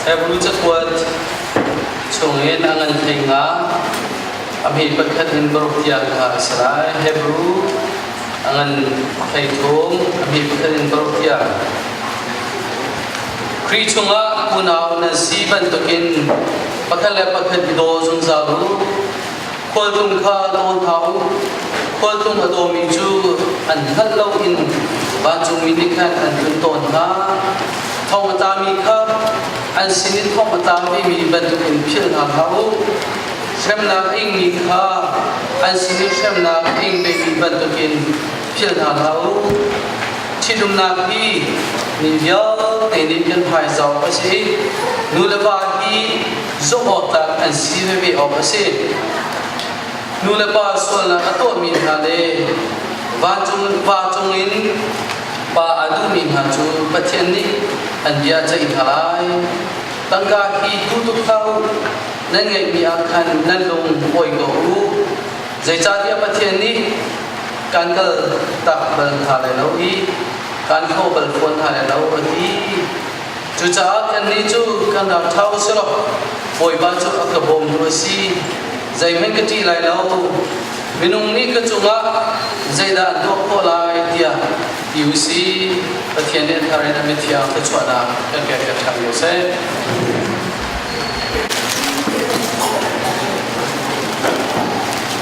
Hebrew cakuat chung in a ngan thei nga ami pakhat in borok tiang kha a si lai Hebrew a ngan thei thum ami pakhat in borok tiang Kri chungah unau na zi bantukin pakhat le pakhat i daw zungzal u khualtlung kha dawn hna u khualtlung a dawmi cu an hngalh lo in vancungmi nih khan an tlun tawn hna thong a tami kha an sin in thong a tamimi bantukin philh hna hlah u hremnak a ingmi kha an sin i hremnak a ingvemi bantukin philh hna hlah u ṭhitumnak hi mi vialte nih kan hmaizawh a si nu le va hi zohawktlak an si veve awk a si. Nu le pa sualnak a tuahmi hna le va cung, va cung in pa a duhmi hna cu Pathian nih an bia ceih hna lai. Tangka hi tu tuk hlah u, nan ngeihmi ah khan nan lung awi ko u. Zeicahtiah Pathian nih kan kal tak bal hna lai lo i kan khaw bal fawn hna lai lo a ti. Cucaah kannih cu kan rak ṭha u si law Bawipa cu a ka bawmtu a si. Zeihmanh ka ṭih lai lo. Minung nih ka cungah zeidah an tuah khawh lai tiah ti u sih. Pathian nih a thar in a mithiang ka chuahnak kan ke ka ṭhang ko seh.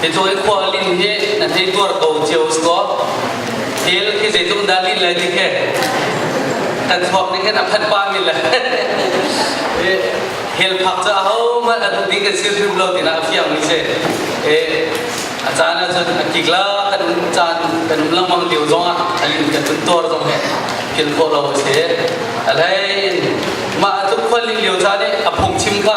Pecawi khua lin he na thei tuar ko cio sko. Thil hi zeitluk dah lin lai ti he. Kan chuak ni hen a phat pa min le. Hel phak ca ho ma atu ding ka sil hrim lo tina fiang ni se. Eh a caan ah cun a kik la kan caan kan langmang liu zong ah alin kan tun tuar zong he thil khawh lo se. Alai ma atu khwal lin liu ca ne a phung chim kha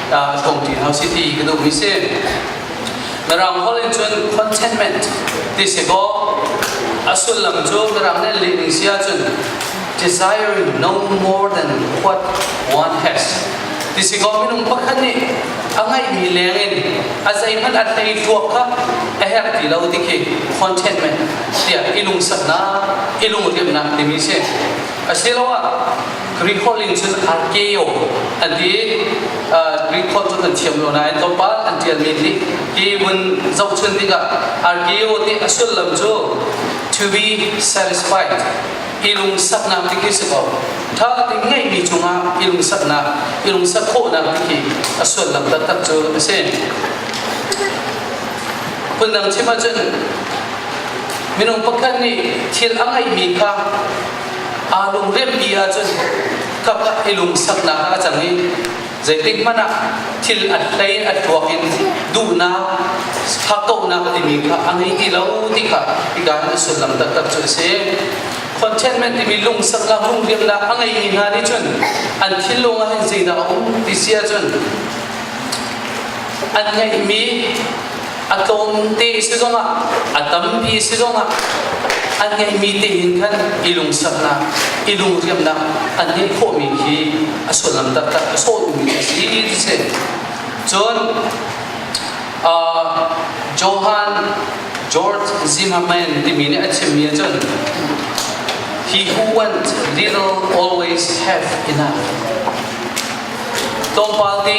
ta ka tong ti hau si ti ka duh mi si Mirang holh in cun contentment ti si kaw a sullam cu Mirang nih lih ning si ahcun desiring no more than what one has ti si kaw minung pakhat nih a ngeihmi leng in a zeihmanh a thei tuak kha a herh ti lo ti khi contentment tiah i lungsaknak i lungriamnak timi si asiloah Greek holh in cun arkeo an ti Greek holh cu kan thiam lo nain tlawmpal an ṭialmi nih hi vun zohchun tikah arkeo ti a sullam cu to be satisfied i lungsaknak ti khi si ko ṭha tein ngeihmi cungah i lungsaknak i lungsak khawhnak ti khi a sullam taktak cu a si phundang chim ahcun minung pakhat nih thil a ngeihmi kha aa lungrenh ti ahcun kap i lungsaknak ah a cang i zeitik hmanh ah thil a hlei a tuak in duhnak hakkauhnak timi kha a ngei ti lo ti kha hika na sullam taktak cu a si contentment timi lungsaknak lungriamnak a ngeimi hna nih cun an thinlung ah hin zeidah a um ti si ahcun an ngeihmi a tlawm te si zongah a tampi si zongah a ngeihmi te hin khan i lungsaknak i lungriamnak an ngeih khawhmi khi a sullam taktak a sawhmi a si ti si cun Johan George Zimmerman timi nih a chimmi ahcun He who wants little always have enough tlawmpal te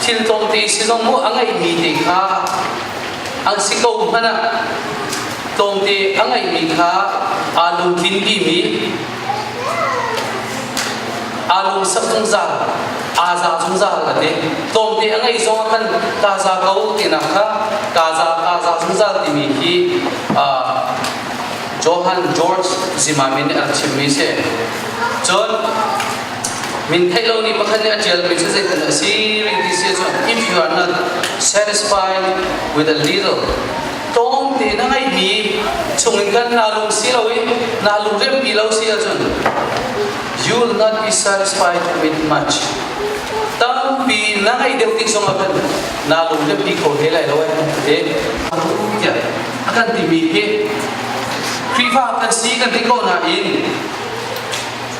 thil tlawmte si zong mu a ngeihmi te kha an si ko hmanh ah tlawmte a ngeihmi kha aa lungtlin bimi aa lung sak zungzal aa za zungzal kan ti tlawmte a ngeih zong ah khan ka za ko tinak kha ka za ka za zungzal timi hi Johan George Zimmerman nih a chimmi si cun min theih lo ni pakhat nih a ṭialmi cu zeitin a si ring ti sia cun if you are not satisfied with a little tlawm te na ngeihmi chung in kan naa lung si loin naa lung riampi lo si ahcun you will not be satisfied with much tampi na ngeih deuh tik zong ahcun naa lung riampi kho te lai lo te tiah a kan timi hi Khrihfa kan si kan ti ko nain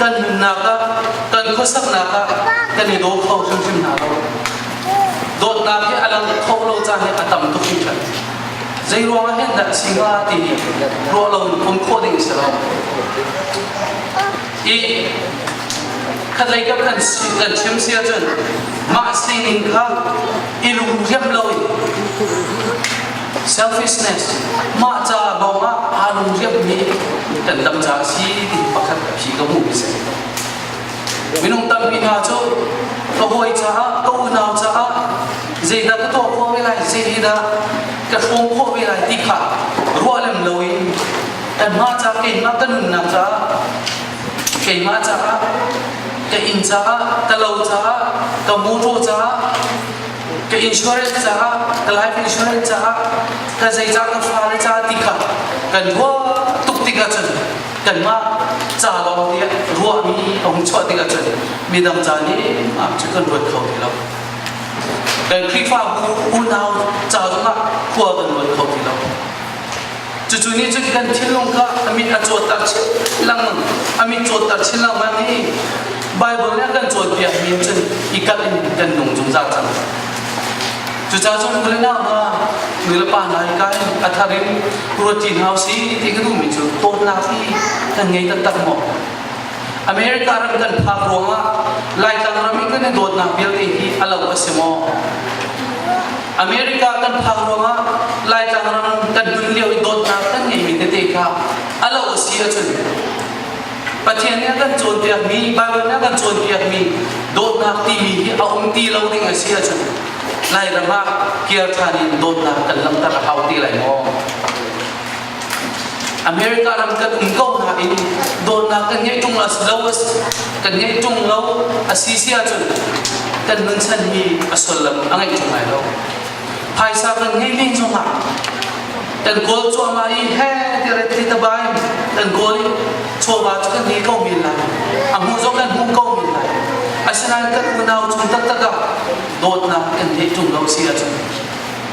kan nunnak ah kan khuasaknak ah kan i daw kho hrimhrim hna lo dawtnak hi a lang kho lo caan hi a tam tuk mi kan zei ruang ah hin dah singa ti ruah lo um khawh ding si lo i khatlei ka kan kan chim si ahcun mah sining kha i lung riam lo in Selfishness cu mah caah lawng ah aa lungriammi kan dam caah a si ti pakhat phi ka hmuh mi si. Minung tampi hna cu ka hawi caah, ka unau caah zeidah ka tuah khawh ve lai, zeidah ka hrawm khawh ve lai ti kha ruah lem lo in kanmah caah, keimah ka nunnak caah, keimah caah, ka inn caah, ka lo caah, ka muṭaw caah ka insurance caah ka life insurance caah ka zeicah ka fale caah ti kha kan ruah tuk tik ahcun kanmah ca lawng nih ruahmi a hung chuah tik ahcun midang ca nih ah cu kan ruat kho ti lo kan Khrihfa unau ca zongah khua kan ruat kho ti lo Cucu nih cun kan thinlung kha a mit a cawtter chin lang a mit cawtter chin lengmang i Bible nih a kan cawnpiak mi cun i kalh in kan nung zungzal cang. Cucaah cu vule na ma nu le pa nai kai a thar in ruatin hau si ti ka duhmi cu dawtnak hi kan ngei taktak maw? America ram kan phak ruangah Laitlang ram i kan i dawtnak vialte hi a lo a si maw? America kan phak ruangah Laitlang ram kan nun lio i dawtnak kan ngeimi tete kha a lo a si ahcun Pathian nih a kan cawnpiakmi Baibal nih a kan cawnpiakmi dawtnak timi hi a um ti lo ding a si ahcun Lairam ah kir ṭhan in dawtnak kan langhter a hau ti lai maw? America ram kan um ko nain dawtnak kan ngei ṭung lo kan ngei ṭung lo a si si ahcun kan nun chan hi a sullam a ngei ṭung lai lo. Phaisa kan ngei ning zongah kan goal cuahmah i he tiret ti tabai kan goal i chawva cu kan ngei ko men lai a hmu zong kan hmu ko men lai asinain kan unau chung taktak ah dawtnak kan ngei ṭung lo si ahcun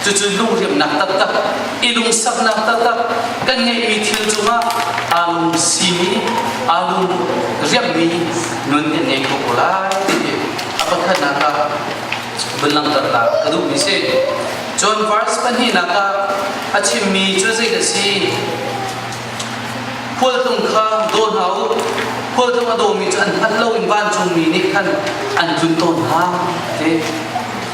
Cucu lungriamnak taktak, i lungsaknak taktak kan ngeihmi thil cungah amu simi, amu riammi nun in ngei ko ko lai ti a pakhatnak ah vun langhternak ka duhmi si. John verse pahnihnak ah a chimmi cu zei ka si? Khualtung kha daw hna u, khualtung a dawmi cu an hngat lo in vancungmi nih khan an tlun tawn hna. Ti.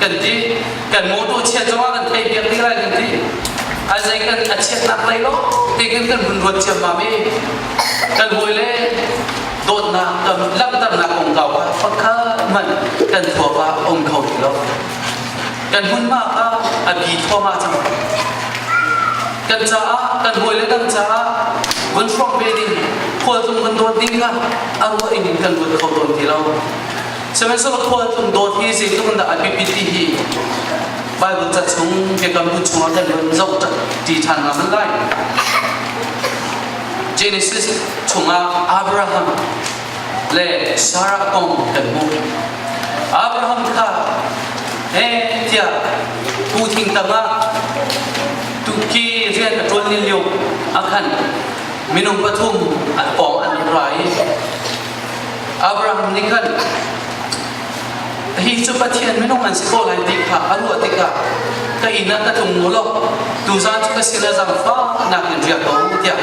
kan ti kan motor chiat zong ah kan thei biak ding lai kan ti a zei kan a chiatnak lai lo ti kan kan hun ruat ciam ma mi kan hawi le dawtnak tam langhternak kong kau kha fakhat man kan thuap ah om kho ti lo kan hmun ma kha a bi thoma cang kan caah kan hawi le dang caah vun hruak ve ding khual tung kan dawt ding kha a ruah in kan ruat kho tawn ti lo Sihmanhsehlaw khualtlung dawt hi zeitluk in dah a biapit ti hi Bible ca chung biakam bu chungah kan run zoh ti ṭhan ngam lai. Genesis chungah Abraham le Sarah kong kan hmuh. Abraham kha heh tiah pu thing tangah tukki rian a ṭuan ni lio a khan minung pathum an pawng an ra i Abraham nih khan hi cu Pathian minung an si ko lai ti kha a ruah tikah ka inn ah ka tlung mu law tuzaan cu ka sinah zaangfahnak in riak ko u tiah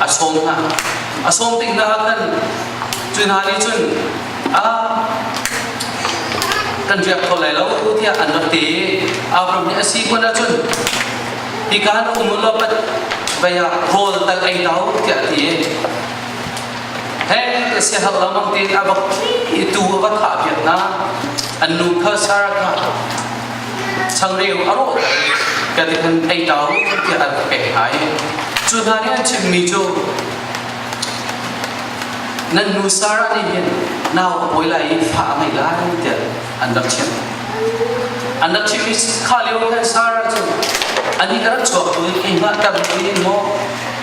a sawm hna a sawm tik hna ah khan cu hna nih cun ah kan riak kho lai lo tiah an rak ti Abraham nih a si kun ah cun hika an um law vai ah rawl tal ei lau tiah a ti Hei ka siahar lengmang tein a bak khi tu a va thah piak na an nu kha Sarah ka changreu a rawh ka ti kan ei tau tiah an pek hai cu hna nih an chimmi cu nan nu Sarah nih hin nau a pawi lai i fa a ngei lai tiah an rak chim an rak chimmi kha lio khan Sarah cu ani ka rak chuak tu keimah tam in maw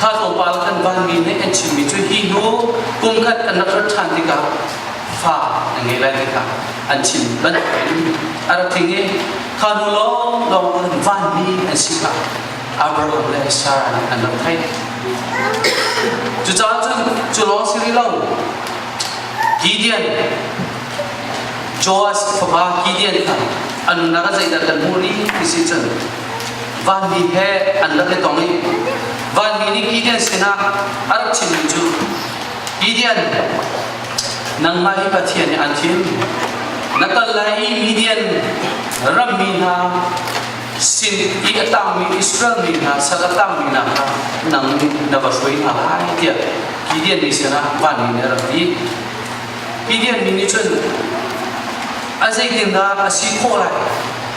kha tlawmpal kan vanmi nih an chimmi cu hi hnu kum khat kan rak rat ṭhan tikah fa an ngei lai tikah an chim bantukin a rak thing i kha hnu lawng lawng an vanmi an si kha Abraham le Sarah nih an rak theih cucaah cun cu lawng si rih lo Gideon Joas fapa Gideon kha a nunnak ah zeidah kan hmuh rih ti si cun vanmi he an rak i tong i vanmi nih Gideon sinah a rak chimmi cu Gideon nangmah hi Pathian nih an thim na kal lai i Midian rammi hna sin i a tangmi Israel mi hna sal a tangmi hna kha nang nih na va hruai hna lai tiah Gideon nih sinah vanmi nih a rak ti Gideon mi nih cun a zeitindah a si khawh lai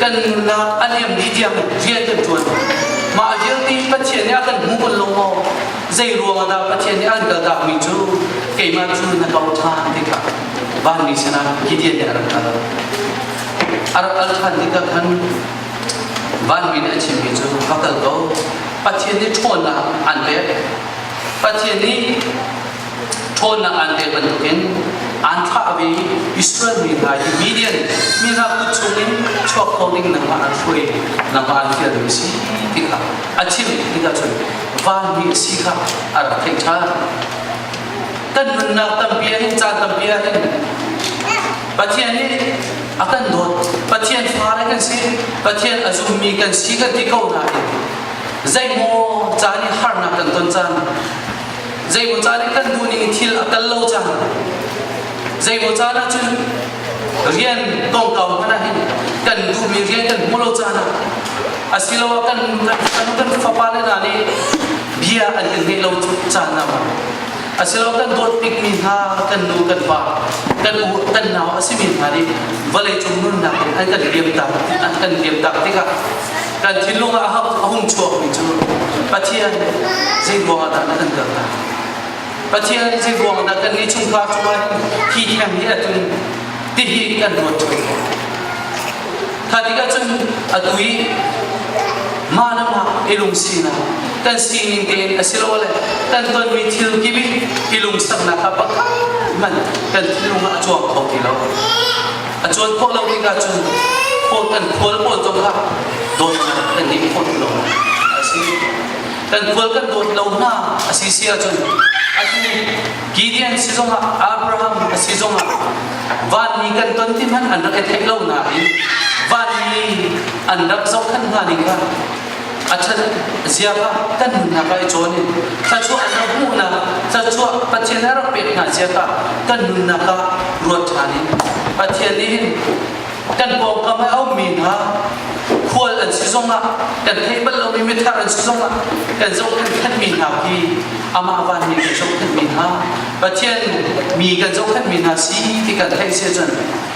kan nunnak a liam ni tiang rian kan ṭuan mah vialte Pathian nih a kan hmu bal lo maw zei ruang ah dah Pathian nih an kaltakmi cu keimah cu na kau ṭhan tikah vanmi sinah Gideon nih a rak kal a rak kal ṭhan tikah khan vanmi nih a chimmi cu va kal ko Pathian nih ṭhawnnak an pek Pathian nih ṭhawnnak aan pek bantukin aan thlah ve Israel mi hna hi Midian mi hna kut chungin chuak ko ding nangmah aan hruai nangmah aan fial mi si ti kha a chim ti ka cun vanmi a si kha a rak theih ṭhan kan nunnak tampi ah hin caan tampi ah hin Pathian nih a kan dawt Pathian fare kan si Pathian a zummi kan si kan ti ko nain zeimaw caan i harnak kan ton caan zeimaw caan i kan bu nih thil a kal lo cang zeimaw caan ah cun rian kongkau hmanh ah hin kan duhmi rian kan hmu lo caan ah asiloah kan kan kan, kan fapa le hna nih bia an kan ngeih lo caan ah asiloah kan dawt bikmi hna kan nu kan pa kan u kan nau a simi hna nih vawlei cung nunnak in an kan liam tak an kan liam tak tikah kan thinlung ah a hung chuakmi cu Pathian nih zeiruangah dah na kan dal hna? Pathian nih zeiruangah dah kan nih chungkhar cungah hi theng hi atun tihi kan ruat ṭung Kha tikah cun atu i manamah i lung sinak kan sining tein asilole kan tonmi thil kip i i lungsaknak a pak man kan thinlung ah a cuang kho ti lo A cawn khawh lomi hna cu phawt an khual pawl zong kha dawt an i phawt lo a si. Kan khual kan dawt lo hna a si si ahcun atu Gideon si zongah Abraham si zongah vanmi kan ton ti hmanh an rak i theih lo nain vanmi an rak zohkhenh hna ning kha a ṭhat ziafa kan nunnak ah i cawn in thluachuah kan hmuhnak thluachuah Pathian a rak pek hna zia kha kan nunnak ah ruat ṭhan in Pathian nih hin kan pawngkam a aumi hna khual an si zongah kan theih bal lomi mithar an si zongah kan zohkhenh khanmi hna hi amah vanmi kan zohkhenh mi hna Pathian mi kan zohkhenh mi hna si ti kan theih sia cun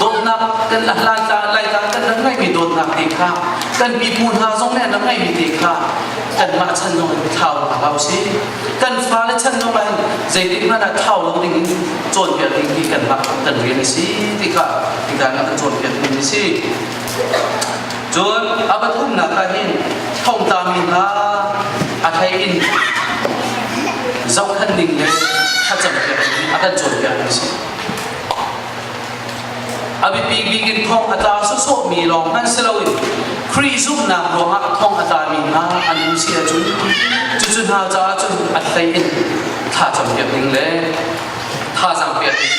dawtnak kan laitlang kan nan ngeihmi dawtnak te kha kan pipu hna zong nih nan ngeihmi te kha kanmah chan zong in thlau a hau si kan fale chan zong in zeitik hmanh ah thlau lo ding in cawnpiak ding hi kanmah kan rian a si ti kha kita nan ka cawnpiak ding a si cun a pathumnak ah hin thongta mi hna a thei in zohkhan ding le thlacam piak ding a kan cawnpiak a si A biapik bik in thawng a tla sawsawhmi lawng hmanh si loin Khrih zumhnak ruangah thawng a tlami hna an um si ahcun cucu hna caah cun a hlei in thacam piak ding le thazang piak ding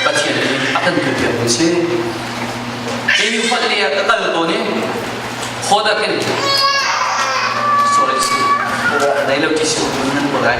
Pathian nih a kan pilpiak ding si. Hi upat ni ah ka kal tawn i hodak in sorry si. Nei lo ti si nan buat ai.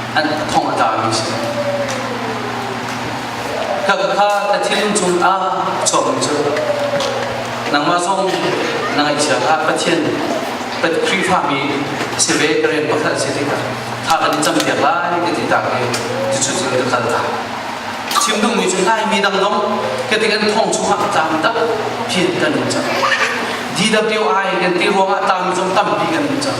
an thong a tlami a si. Ka kha na thinlung chungah chuahmi cu nangmah zong na ngaihchia kha Pathian Khrihfami si ve ka rian pakhat si tikah tha kan i campiak lai ka ti tak i cucu cu ka kal ta. Chim duhmi cu laimi dang dong ka ti kan thong chungah tang tak phin kan in cang. DWI kan ti ruangah tang zong tampi kan in cang.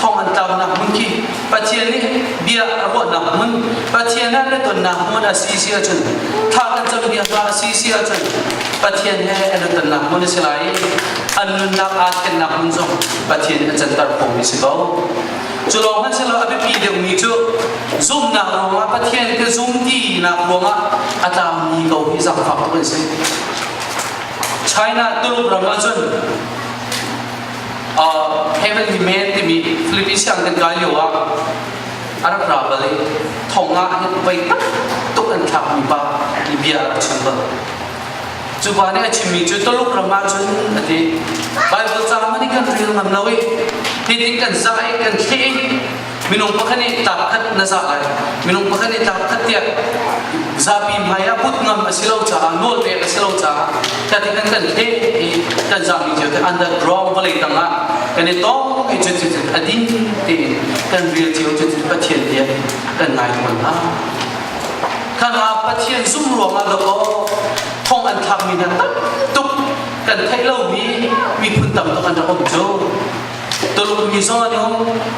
thong an tlaunak hmun khi Pathian nih bia a ruahnak hmun Pathian ah biatonnak hmun a si si ahcun thah kan cawnbia hla a si si ahcun Pathian he an tonnak hmun a si lai an nunnak aa thlennak hmun zong Pathian nih a canter khomi si ko cu lawng hmanhsehlaw a biapi deuhmi cu zumnak ruangah Pathian ka zum tinak ruangah a tlangmi ko hi zangfaktu an si China tuluk ram ahcun Heavenly Man timi Filipi siang kan kai lio ah a rak ra bal i thong ah hin voi tak tuk an thlakmi pa ti bia a rak chim bal. Cu pa nih a chimmi cu Tuluk ram ah cun a ti. Bible caang nih kan rel ngam lo i hitin kan zah i kan theh i minung pakhat nih tar khat na zah lai minung pakhat nih tar khat tiah zapi hmai ah but ngam a si lo caah nawl pek a si lo caah tati kan kan he i kan zahmi cu under ground vawlei tang ah kan i tong i cutin a ding tein kan ril cio cutin pathian tiah kan ngai tawn hna kan ah pathian zum ruangah dok aw thong an thakmi hna tam tuk kan theih lomi miphun tam tuk an rak um cu Tuluk mi zong an um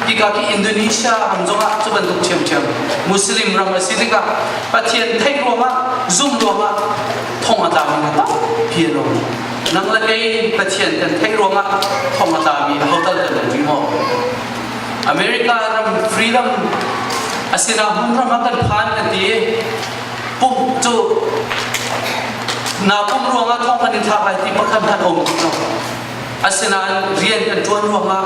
ika ki Indonesia ram zong ah cu bantuk ṭhiamṭhiam Muslim ram a si tikah Pathian theih ruangah zumh ruangah thong a tami hna tampi a lo nang le kei Pathian kan theih ruangah thong a tami ho tal kan um maw America ram freedom a sinah hmun ram ah kan phan kan ti pumh cu na pumh ruangah thong kan in thak lai ti pakhat khat um Asinain rian kan ṭuan ruangah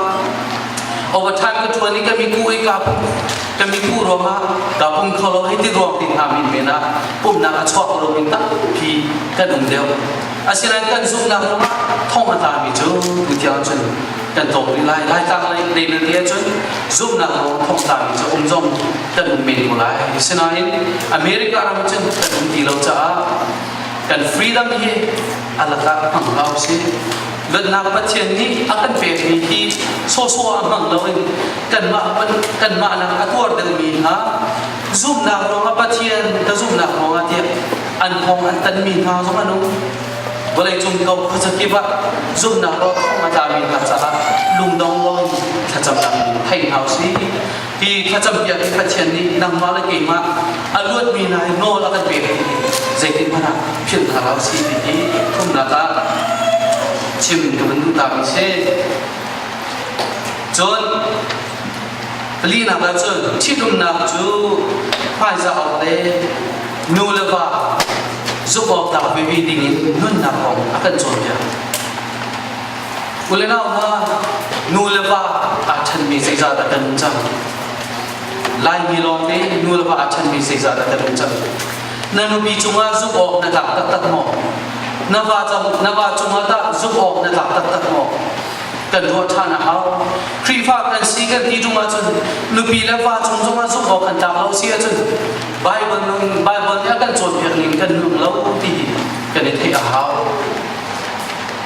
overtime ka ṭuan i ka miku i ka ka miku ruangah ka pum kholo hi ti ruang ti hna min men ah pumnak a chuak ruang in tampi kan um deuh asinain kan zumhnak ruangah thong a tami cu mithiang cun kan tawk rih lai lai tang lai lei le te cun zumhnak ruang thong tami cu um zong kan um men ko lai asinain America ram cun kan um ti lo caah kan freedom hi alakak hmang hau si luatnak pathian nih a kan pekmi hi sawsawh ah hmang loin kanmah kanmah nak a tuar deuhmi hna zumnak ruangah pathian ka zumnak ruangah tiah an kong an tanmi hna zong an um vawleicung ko khuazakip ah zumnak ro thong a tami hna caah lungdong lawng thlacam lam thei hau si Hi thlacam bia hi Pathian nih nangmah le keimah a luatmi hna hi nawl a kan pek hi zeitin hmanh ah philh hna hlah si ti hi khumnak ah chim ka van duh taak si. Cun palinak ah cun ṭhitumnak cu hmaizah awk le nu le va zumh awk tlak vevi ding in nunnak kong a kan cawnpiak. Kule nau hna, nu le pa aa chanmi zeizah dah kan um cang? Laimi lawng nih nu le pa aa chanmi zeizah dah kan um cang? Na nupi cungah zumh awk na tlak taktak maw? Na va, na va cungah tah zumh awk na tlak taktak maw? kan ruah ṭhan a hau. Khrihfa kan si kan ti chung ahcun nupi le va cung zongah zumh awk kan tlak lo si ahcun Bible nun Bible nih a kan cawnpiak ning kan nung lo ti kan i theih a hau.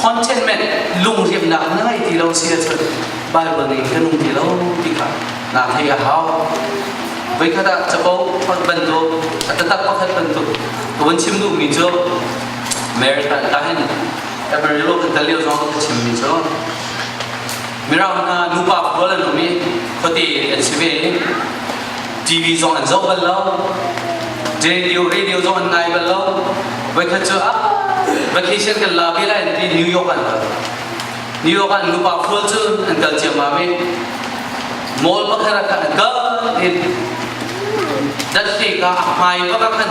contentment lungriamnak na ngei ti lo si ahcun Bible nih ka nung ti lo ti kha na thei a hau voikhat ah capo bantuk a tatak pakhat bantuk ka vun chim duhmi cu Mary ta hin Amarillo kan tal lio zong ka chimmi cu Mirang hna nupa pawl an um i khuate an si ve. TV zong an zoh bal lo. Radio, radio zong an ngai bal lo. Voikhat cu ah vacation kan la ve lai ti New York an kal. New York ah nupa pawl cu an kal ciammam i mall pakhat ah khan an kal in datli ka a hmai pakhat khan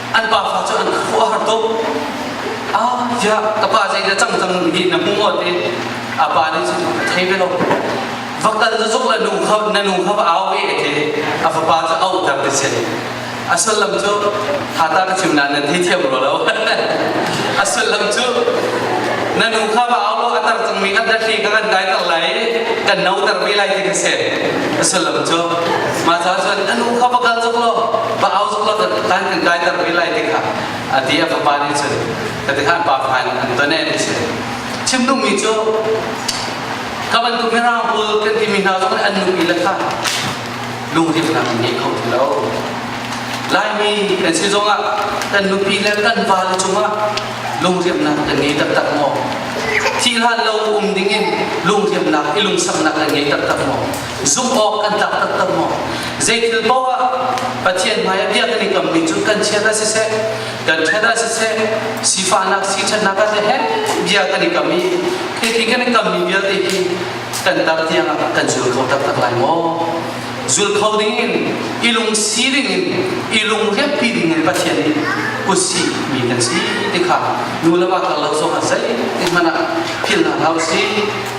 an pafa cu an khuh a har tuk ah tiah ka pa zeidah cang cang hi na hmu maw ti a pa nih cu ka thei ve lo vaktal cu zuk la nu kha na nu kha va au e ti a fapa cu au dam te si a sullam cu hata ka chim nan nan thei thiam ro lo a sullam cu na nu kha va au lo a tar cangmi kha datli ka kan dai tar lai kan no tar ve lai ti ka se a sullam cu ma cha chuan na nu kha va kal chuk lo va au zok lo tan kan kai ter rih lai ti kha a ti a fapa nih cun ka ti khan pa khan an tone ni si chim nu mi cu ka ban tu mira hul kan ti mi hna zok an nu mi la kha lungrim nak nge kho lo laimi kan si zong ah kan nupi le kan va le chunga lungriam nak kan ngei tak tak mo thi hlan lo um ding in lungriam nak i lungsam nak kan ngei tak tak mo zumh awk kan tlak taktak maw? Zeithil paoh ah Pathian hmai ah bia kan i kammi cu kan chiat ah siseh, kan ṭhat ah siseh, sifahnak, siṭhatnak ah siseh bia kan i kam i khi kan i kammi vialte hi kan tar tiang ah kan zul kho taktak lai maw? Zul kho ding in i lungsi ding in i lungriappi ding in Pathian nih kusi mi kan si ti kha nu le va karlo zong ah zeitin hmanh ah philh hna hlah usih.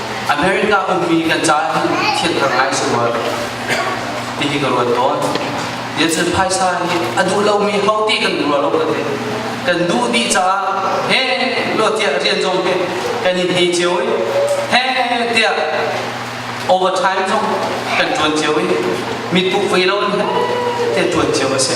America ummi kan caan thianter ngai si rua tihi ka ruat tawn. Nelson Phaisa nih a duh lomi ho ti kan duh lo ka ti. Kan duh dih caah he lo tiah rian zong he kan in hei cio i he tiah overtime zong kan tuan cio i mi tuh ve lo in he tuan cio a si.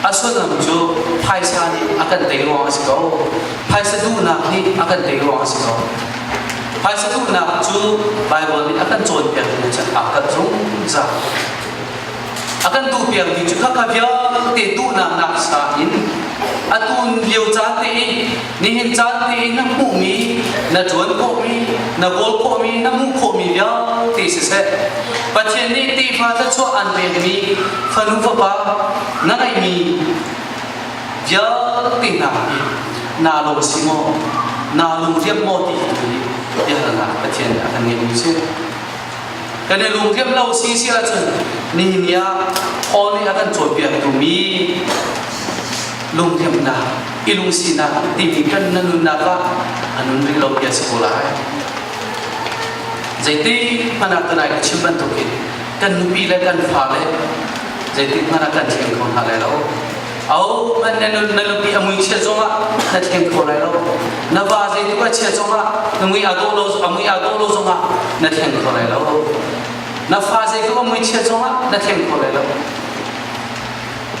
A sullam cu phaisa nih a kan tei ruang a si ko. Phaisa duhnak nih a kan tei ruang a si ko. Phaisa duhnak cu Baibal nih a kan cawnpiakmi cu a kan zungzal. A kan tuhpiakmi cu khaka vialte duhnak naksa in a tun lio caan te in Nihin caan tiin na hmuhmi, na tuan khawhmi, na kawl khawhmi, na hmuh khawhmi vialte siseh, Pathian nih tefa thluachuah aan pekmi fanu fapa na ngeihmi vialte hna hi naa lawm si maw, naa lungriam maw ti hi biahalnak Pathian a kan ngeihmi si. Kan i lungriam lo si si ahcun nihin ah Paul nih a kan cawnpiaktu mi lungriamnak i lungsinak timi kan na nunnak ah a nun rih lo ti a si ko lai zeiti hmanah tanai ka chim bantuk in kan nupi le kan fa le zeiti hmanah kan thleng kho hna lai lo au man na nun na nupi a mui chia zong ah na thleng kho lai lo na va zeituk a chia zong ah na mui a do lo a mui a do lo zong ah na thleng kho lai lo na fa zeituk a mui chia zong ah na thleng kho lai lo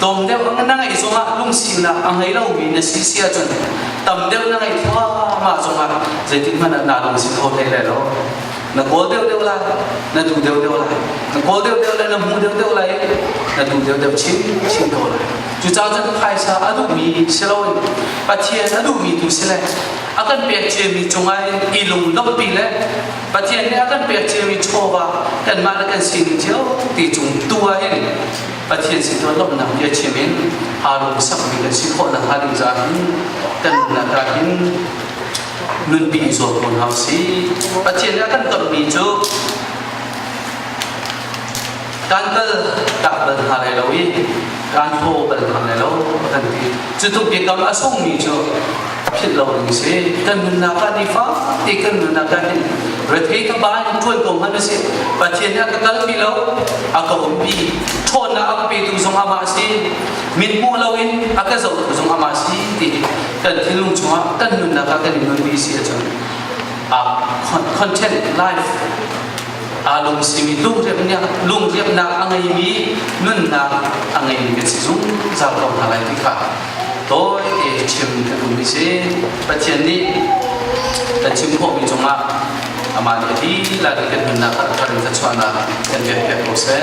Dawm deuh na ngeih zongah lungsinak a ngei lomi na si si ahcun tam deuh na ngeih thluahmah zongah zeitin hmanh na lungsi kho hlei lai lo. Na kawl deuhdeuh lai, na duh deuhdeuh lai. Na kawl deuhdeuh lai, na hmu deuhdeuh lai, na duh deuhdeuh chin chin ko lai. Cucaah cun phaisa a duhmi si loin Pathian a duhmi tu si le a kan pek ciami cungah i lungdompi le Pathian nih a kan pek ciami chawva kanmah le kan sining cio ti cung tu ah hin Pathian sin tuan lawmhnak biachim in Harun sakmi kan si khawh nakhnga ding caah hin kan nunnak ah hin nunpi i zuam ko hna usih. Pathian nih a kan tonmi cu kan dal dak bal hna lai lo i kan thaw bal hna lai lo a kan ti. Cu tluk biakam a sungmi cu philh lo ding si kan nunnak ah ni fakte kan nunnak ah hin rethei ka ba in ṭuan ko ngan si pathian nih a ka kal pi lo a ka um pi ṭhawnnak a ka pe tu zong ama si min hmuh lo in a ka zoh tu zong ama si ti kan thinlung chungah kan nunnak ah kan i nun pi si a cun a content life a lung simi lung rep nih lung repnak a ngeimi nunnak a ngeimi kan si zung zau ko hna lai ti kha tawite chim kan duhmi si Pathian nih kan chim khawhmi cungah amah nih dihlak in kan nunnak a thar in thluachuahnak kan pek pek ko seh